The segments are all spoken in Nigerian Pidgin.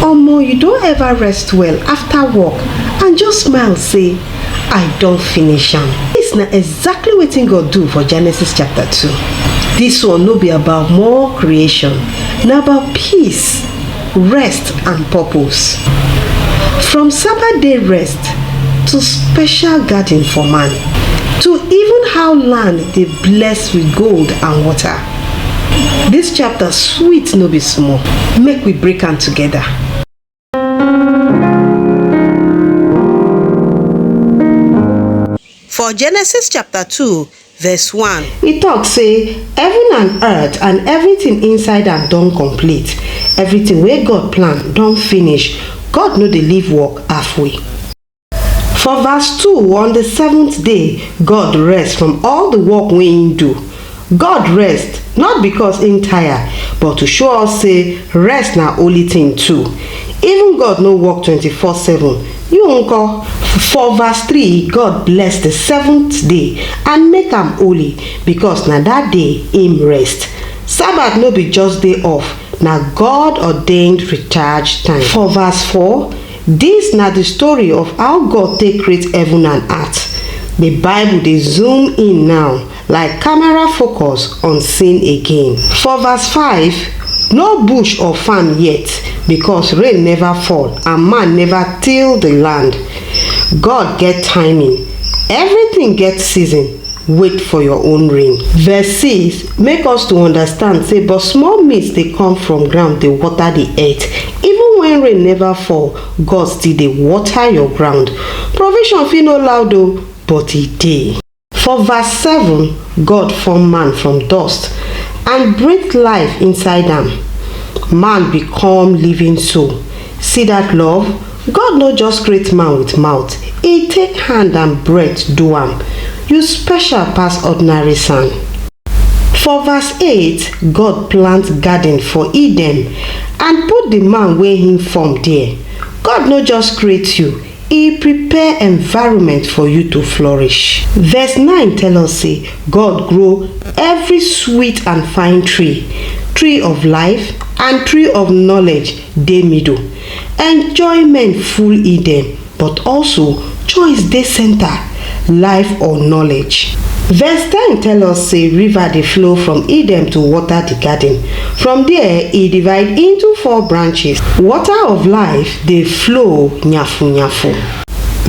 omo you don ever rest well after work and just smile say i don finish am dis na exactly wetin god do for genesis chapter 2 dis one no be about more creation na about peace rest and purpose from sabbath day rest to special garden for man to even how land dey bless with gold and water This chapter sweet no be small, make we break am together. For Genesis chapter 2, verse 1. He talk say, Heaven and earth and everything inside am don complete. Everything wey God plan don finish. God no dey leave work halfway. For verse 2, on the seventh day, God rest from all the work wey im do. God rest not because im tire, but to show us say rest na holy thing too. Even God no work 24 7, you nko? For verse 3, God bless the seventh day and make am holy because na that day im rest. Sabbath no be just day off, na God ordained recharge time. For verse 4, Dis na di story of how God take create heaven and eart. Di Bible dey zoom in now like camera focus on sin again. For verse five, No bush or farm yet, because rain neva fall and man neva till di land. God get timing. Evritin get season. wait for your own rain. Verse 6 make us to understand say but small mist dey come from ground dey water the earth even when rain never fall God still dey water your ground provision fit no loud o but e dey. For verse 7 God form man from dust and breathe life inside am man become living soul See that love? God no just create man with mouth, He take hand and breath do am. You special pass ordinary sand. For verse 8, God plant garden for Eden and put the man wey him form there. God no just create you, He prepare environment for you to flourish. Verse 9 tell us say God grow every sweet and fine tree, tree of life and tree of knowledge dey middle, enjoyment full Eden but also choice dey center, life or knowledge. Verse ten tell us say river dey flow from Eden to water di garden, from there e divide into four branches, water of life dey flow nyafu nyafu.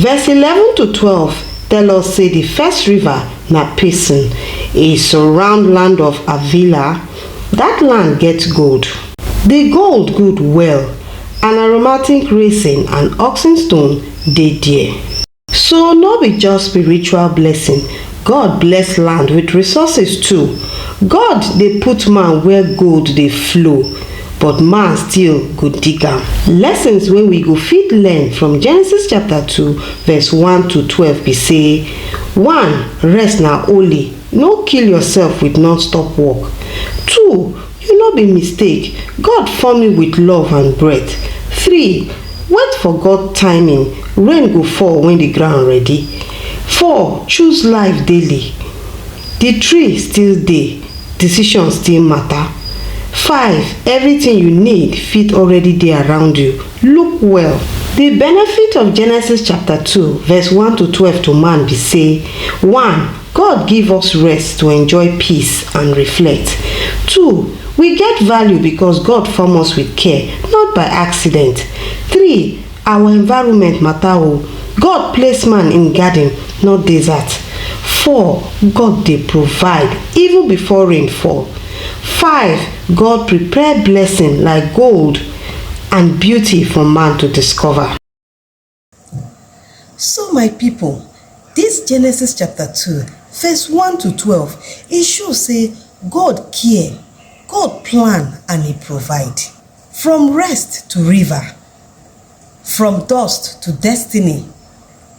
Verse eleven to twelve tell us say di first river na Pison, e surround land of Avila, dat land get gold. Di gold good well and aromatic resin and oxen stone dey there. So no be just spiritual blessing, God bless land with resources too. God dey put man where gold dey flow but man still go dig am. Lessons wey we go fit learn from Genesis chapter two verse one to twelve be say, one, rest na holy, no kill yourself with non-stop work. Two, You no be mistake, God form you with love and breath Three, Wait for God timing, rain go fall when the ground ready Four, Choose life daily, the tree still dey, decision still matter Five, Everything you need fit already dey around you, look well. The benefit of Genesis chapter two verse one to twelve to man be say, One, God give us rest to enjoy peace and reflect. Two, we get value because God form us with care, not by accident. Three, our environment matter o. God place man in garden, not desert. Four, God dey provide even before rain fall. Five, God prepare blessing like gold and beauty for man to discover. So my pipo, dis Genesis chapter two verse one to twelve e show sey God care, God plan and e provide. From rest to river, from dust to destiny,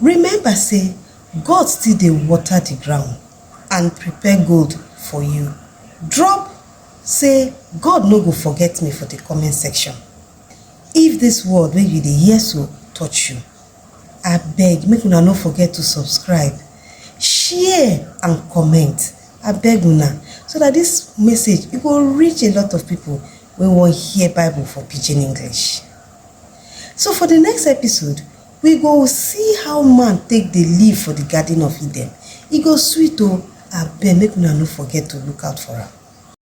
remember sey God still dey water di ground and prepare gold for you. Drop sey God no go forget me for di comment section. If this word wey you dey hear so touch you, abeg make una no forget to subscribe, share and comment abeg una so that this message e go reach a lot of people wey wan hear bible for pidgin English. So for the next episode we go see how man take dey live for the garden of Eden, e go sweet o abeg make una no forget to look out for am.